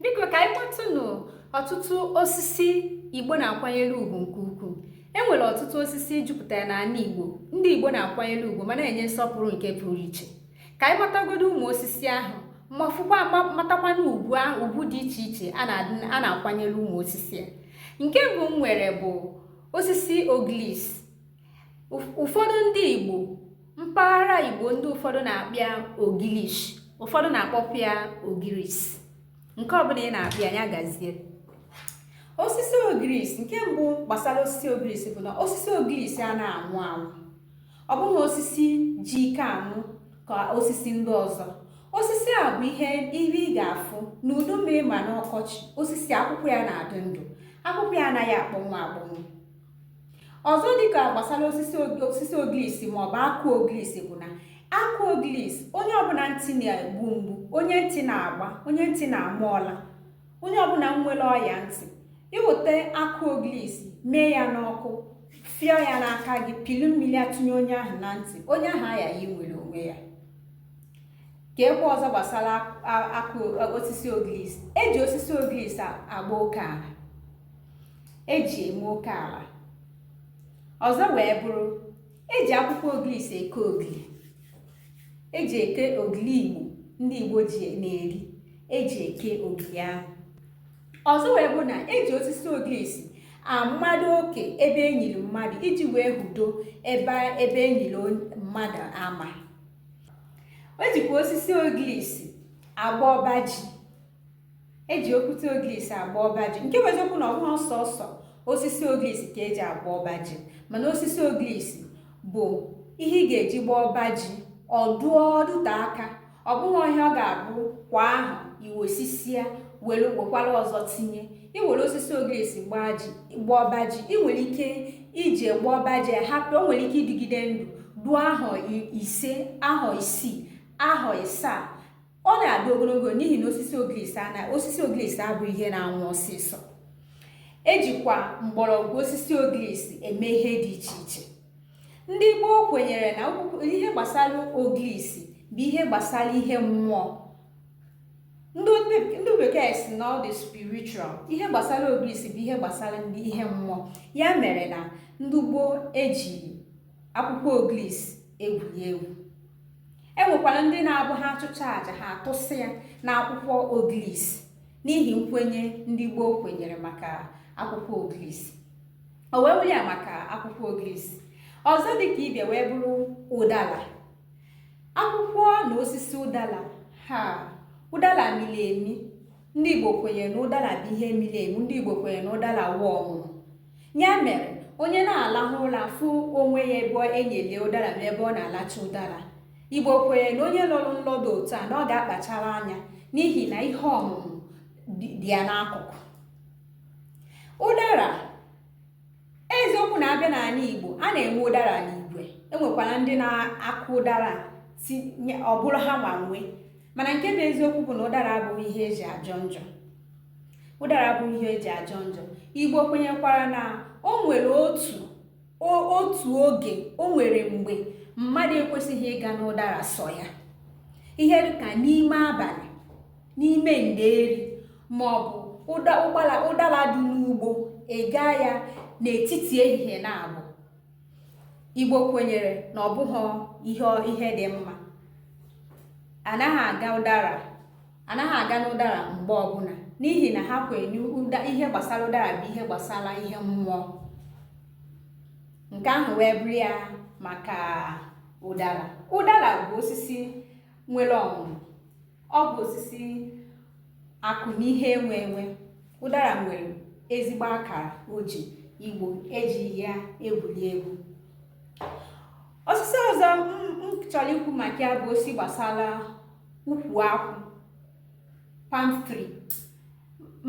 biko ka anyị kpọtụnụ ọtụtụ osisi igbo na-akwanyere ugwu nke ukwuu e nwere ọtụtụ osisi jupụtara n'ala igbo ndị igbo na-akwanyere ugwu ma na-enye nsọpụrụ nke pụrụ iche ka anyị matagodo ụmụ osisi ahụ ma fụkwa matakwana ugwu dị iche iche a na-akwanyere ụmụ osisi a nke mbụ m nwere bụ osisi oglis ụfọdụ ndị Igbo mpaghara Igbo ndị ụfọdụ na-akpọ ya ogilish ụfọdụ na-akpọkwa ya ogiris nke ọbụla ị na-akpọ ya ya gazie osisi ogiris nke mbụ gbasara osisi ogiris bụ na osisi ogiris ana anwụ anwụ ọ bụghị osisi ji ike anwụ ka osisi ndị ọzọ osisi a bụ ihe ibe ị ga-afụ n'udu mmiri ma n'ọkọchị osisi akwụkwọ ya na-adị ndụ akwụkwọ ya anaghị akpọnwụ akpọnwụ ọzọ dịka gbasara osisi ogilisi maọbụ akụ ogilisi bụ na akụ ogilisi onye ọbụla ntị na-egbu mgbu onye ntị na-agba onye ntị na-ama ọla onye ọbụla nwere ọya ntị iweta akụ ogilisi mee ya n'ọkụ fịọ ya n'aka gị pịlị mmiri ya tụnye onye ahụ na ntị onye ahụ aya ya nwere onwe ya ka ekwe ọzọ gbasara osisi ogilisi eji osisi ogilisi agba oke ala eji eme oke ala ọzọ wee bụrụ eji akwụkwọ ogilisi eke ogili eji eke ogili igbo ndị igbo ji na-eri eji eke ogili ahụ ọzọ wee bụrụ na eji osisi ogirisi amado oke ebe enyiri mmadụ iji wee hudo ebe enyiri mmadụ ama ejikwa osisi ogirisi agba ọba ji eji okwute ogirisi agba ọba ji nke bụ eziokwu na ọbụghị sọọsọ osisi ogirisi ka eji agba ọba ji mana osisi ogirisi bụ ihe ị ga-eji gbaa ọba ji ọ dụọ ọ dụte aka ọ bụghị ihe ọ ga-abụ kwa ahọ iwesisia were wekwara ọzọ tinye i were osisi ogirisi gbaa ọba ji ị nwere ike iji gbaa ọba ji hapụ o nwere ike ịdịgide ndụ duo ahọ ise ahọ isii ahọ isaa ọ na-adị ogologo n'ihi na osisi ogirisi ana osisi ogirisi abụ ihe na-anwụ ọsịsọ ejikwa mgbọrọgwụ osisi ogirisi eme ihe dị iche iche ndị gboo kwenyere na ihe gbasara ogirisi bụ ihe gbasara ihe mmụọ ndị bekee sị na ọ dị spiritual ihe gbasara ogirisi bụ ihe gbasara ndị ihe mmụọ ya mere na ndị gboo eji akwụkwọ oglis egwuri egwu e nwekwara ndị na-abụ ha achụcha aja ha atụsị ya na akwụkwọ oglis n'ihi nkwenye ndị gboo kwenyere maka akwụkwọ oglis o wee bụrụ ya maka akwụkwọ oglis ọzọ dị ka ibe ya wee bụrụ ụdala akwụkwọ na osisi ụdala ha ụdala miri emi ndị igbo kwenyere na ụdara bụ ihe miri emi ndị igbo kwenyere na ụdara wụ ọmụmụ ya mere onye na-alahụ ụra fụ onwe ya ebe enyele ụdara ma ebe ọ na-alacha ụdara igbo kwenyere na onye lọrọ nlọ dụ otu a na ọ ga-akpachara anya n'ihi na ihe ọmụmụ dị ya n'akụkụ ụdara eziokwu na abịa n'ala Igbo a na-enwe ụdara n'igwe enwekwara ndị na-akụ ụdara ọ bụrụ ha nwa nwe mana nke bụ eziokwu bụ na ụdara abụghị ihe eji ajọ njọ ụdara abụghị ihe eji ajọ njọ igbo kwenyekwara na o nwere otu otu oge o nwere mgbe mmadụ ekwesịghị ịga n'ụdara sọ ya ihe dịka n'ime abalị n'ime ndeeri ma ọ bụ ụdara dị n'ugbo ega ya n'etiti ehihie na abụ igbo kwenyere na ọ bụghị ihe ihe dị mma anaghị aga ụdara anaghị aga n'ụdara mgbe ọbụla n'ihi na ha kwenye na ihe gbasara ụdara bụ ihe gbasara ihe mmụọ nke ahụ wee bụrụ ya maka ụdara ụdara bụ osisi nwere ọmụmụ ọ bụ osisi akụ na ihe enwe enwe ụdara nwere ezigbo akara o ji igbo ejighị ya egwuri egwu osisi ọzọ m chọrọ ikwu maka ya bụ osisi gbasara ukwu akwụ palm tree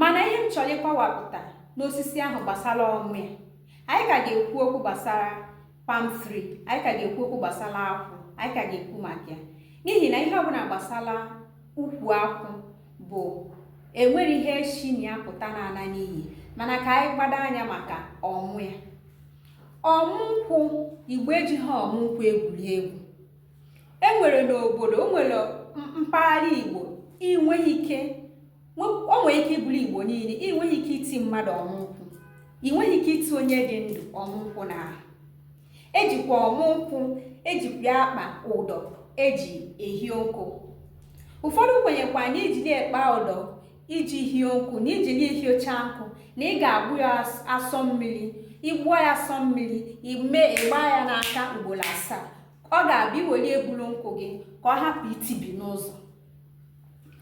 mana ihe m chọrọ ịkọwapụta n'osisi ahụ gbasara ọmụ ya anyị ka ga-ekwu okwu gbasara palm tree anyị ka ga-ekwu okwu gbasara akwụ anyị ka ga-ekwu maka ya n'ihi na ihe ọbụla gbasara ukwu akwụ bụ enweghị ihe shi na ya pụta na-ala n'iyi mana ka anyị gbado anya maka ọmụ ya ọmụ nkwụ igbo ejighị ọmụ nkwụ egwuri egwu enwere n'obodo o nwere mpaghara igbo inweghị ike o nwere ike ịbụrụ igbo niile ị nweghị ike iti mmadụ ọmụnkwụ ị nweghị ike iti onye dị ndụ ọmụnkwụ n'ahụ ejikwa ọmụnkwụ ejikwa akpa ụdọ eji ehie nkụ ụfọdụ kwenyekwa na iji na-akpa ụdọ iji hie nkụ na iji na-ehiecha nkụ na ị ga-agbụ ya asọ mmiri ịgbụọ ya asọ mmiri ime ịgba ya n'aka ugboro asaa ọ ga-abịa iwere ebulu nkụ gị ka ọ hapụ itibi n'ụzọ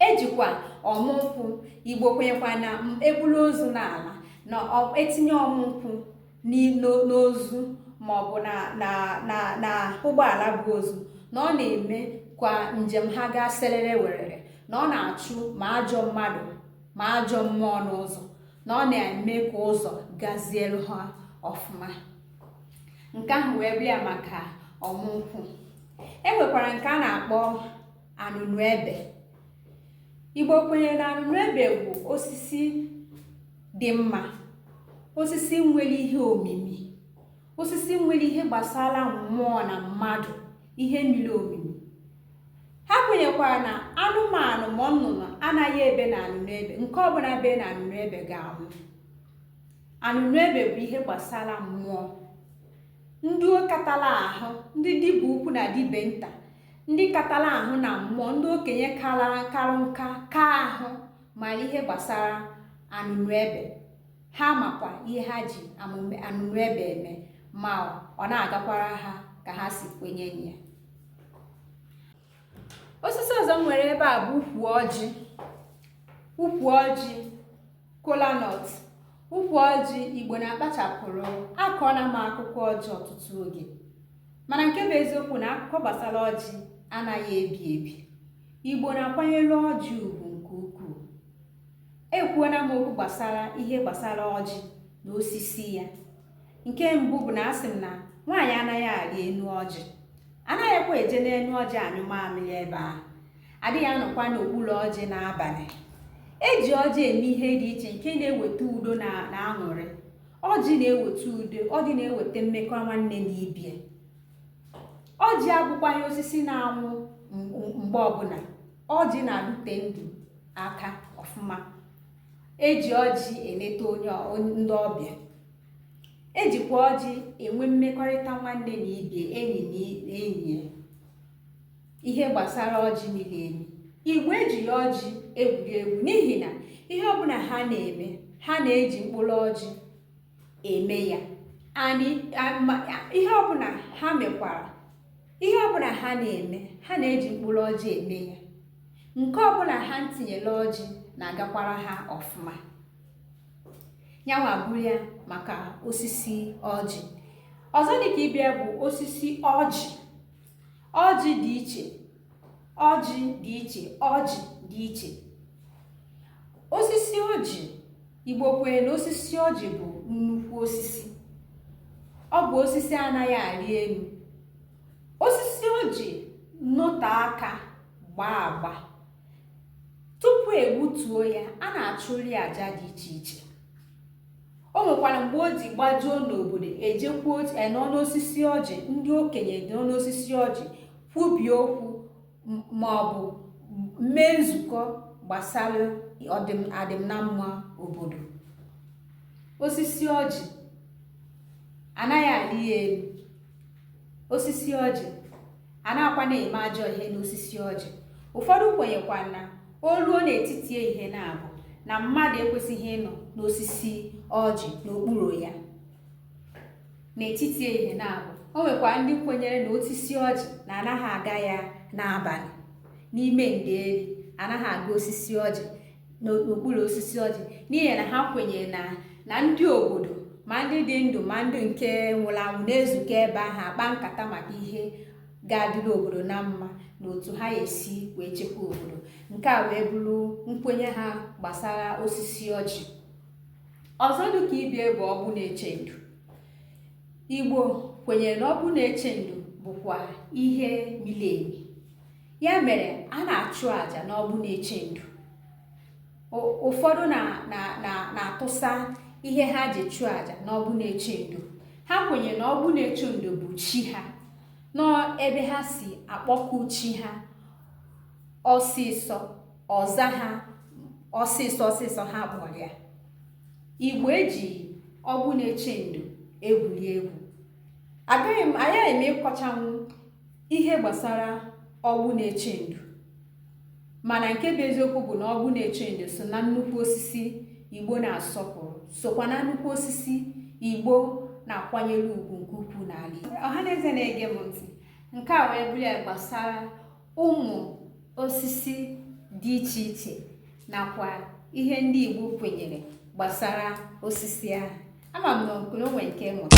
ejikwa ọmụ nkwụ igbo kwenyekwa na ebulu ozu na-ala na etinye ọmụ nkwụ n'ozu maọbụ n'ụgbọala bu ozu na ọ na-emekwa njem ha gaa serere werere na ọ na-achụ ma ajọ mmadụ ma ajọ mmụọ n'ụzọ na ọ na-eme ka ụzọ gazielu ha ọfụma nke ahụ wee bụrụ ya maka ọmụnkwụ e nwekwara nke a na-akpọ anụnụ ebe igbo kwenyere na anụnụ ebe bụ osisi dị mma osisi nwere ihe omimi osisi nwere ihe gbasara mmụọ na mmadụ ihe miri omimi ha kwenyekwara na anụmanụ ma nnụnụ anaghị ebe na anụnụ ebe nke ọbụla be na anụnụ ebe ga-anwụ anụnụ ebe bụ ihe gbasara mmụọ ndị katala ahụ ndị dibịa ukwu na dibịa nta ndị katara ahụ na mmụọ ndị okenye kara karụ nka kaa ahụ mara ihe gbasara anụnụ ebe ha makwa ihe ha ji anụnụ ebe eme ma ọ na-agakwara ha ka ha si kwenye ya osisi ọzọ m nwere ebe a bụ ukwu ọjị ukwu ọjị kolanut ukwu ọjị igbo na-akpachapụrụ akọọla m akụkọ ọjị ọtụtụ oge mana nke bụ eziokwu na akụkọ gbasara ọjị anaghị ebi ebi igbo na-akwanyere ọjị ugwu nke ukwuu ekwuona m okwu gbasara ihe gbasara ọjị na osisi ya nke mbụ bụ na asị m na nwaanyị anaghị arị enu ọjị anaghịkwa eje n'enu ọjị anyụ mamịrị ebe ahụ adịghị anọkwa n'okpuru ọjị n'abalị eji ọjị eme ihe dị iche nke na-eweta udo na aṅụrị ọjị na-eweta udo ọjị na-eweta mmekọ nwanne na ibie ọjị abụkwaghị osisi na-anwụ mgbe ọbụla ọjị na-adịte ndụ aka ọfụma eji ọjị eleta ndị ọbịa ejikwa ọjị enwe mmekọrịta nwanne na ibie enyi na enyi ihe gbasara ọjị miri emi igbo ejighị ọjị egwuri egwu n'ihi na ihe ọbụla ha na-eme ha na-eji mkpụrụ ọjị eme ya ihe ọbụla ha mekwara ihe ọbụla ha na-eme ha na-eji mkpụrụ ọjị eme ya nke ọbụla ha tinyere ọjị na-agakwara ha ọfụma yanwa bụrụ ya maka osisi ọjị ọzọ dịka ibe ya bụ osisi ọjị ọjị dị iche ọjị dị iche ọjị dị iche osisi ọjị igbo kwere na osisi ọjị bụ nnukwu osisi ọ bụ osisi anaghị arị enu osisi ọjị nọte aka gbaa agba tupu egbutuo ya a na-achụrị aja dị iche iche o nwekwara mgbe o ji gbajuo n'obodo ejekwuo ochie nọ n'osisi ọjị ndị okenye nọ n'osisi ọjị kwubie okwu ma ọ bụ mee nzukọ gbasara adịm na mma obodo osisi ọjị anaghị arị ya enu osisi ọjị anaghịkwa na-eme ajọ ihe n'osisi ọjị ụfọdụ kwenyekwa na o ruo n'etiti ehihie naabọ na mmadụ ekwesịghị ịnọ n'osisi ọjị n'okpuru ya n'etiti ehihie naabọ o nwekwa ndị kwenyere na osisi ọjị na anaghị aga ya n'abalị n'ime nderi anaghị aga osisi ọjị n'okpuru osisi ọjị n'ihi na ha kwenyere na na ndị obodo ma ndị dị ndụ ma ndị nke nwụrụ anwụ na-ezukọ ebe ahụ akpa nkata maka ihe ga-adịrị obodo na mma na otu ha ga-esi wee chekwa obodo nke a wee bụrụ nkwenye ha gbasara osisi ọjị ọzọ dị ka ibe ya bụ ọgbụ na-eche ndo igbo kwenyere na ọgbụ na-eche ndo bụkwa ihe miri emi ya mere a na-achụ àjà n'ọgbụ na-eche ndo ụfọdụ na-atụsa ihe ha ji chụọ àjà n'ọgbụ na-eche ndo ha kwenyere na ọgbụ na-eche ndo bụ chi ha na ebe ha si akpọku chi ha ọsịsọ ọ zaa ha ọsịsọ ọsịsọ ha kpọrọ ya igbo eji ọgbụ na-eche ndo egwuri egwu agaghị m ịkọchanwu ihe gbasara ọgbụ na-eche ndo mana nke bụ eziokwu bụ na ọgbụ na-eche ndo so na nnukwu osisi igbo na-asọpụrụ sokwa na nnukwu osisi igbo na-akwanyere ugwu nke ukwuu n'ala Igbo ọhaneze na-ege m ntị nke a wee bụrụ ya gbasara ụmụ osisi dị iche iche nakwa ihe ndị Igbo kwenyere gbasara osisi ahụ ama m na o nwe nke mụta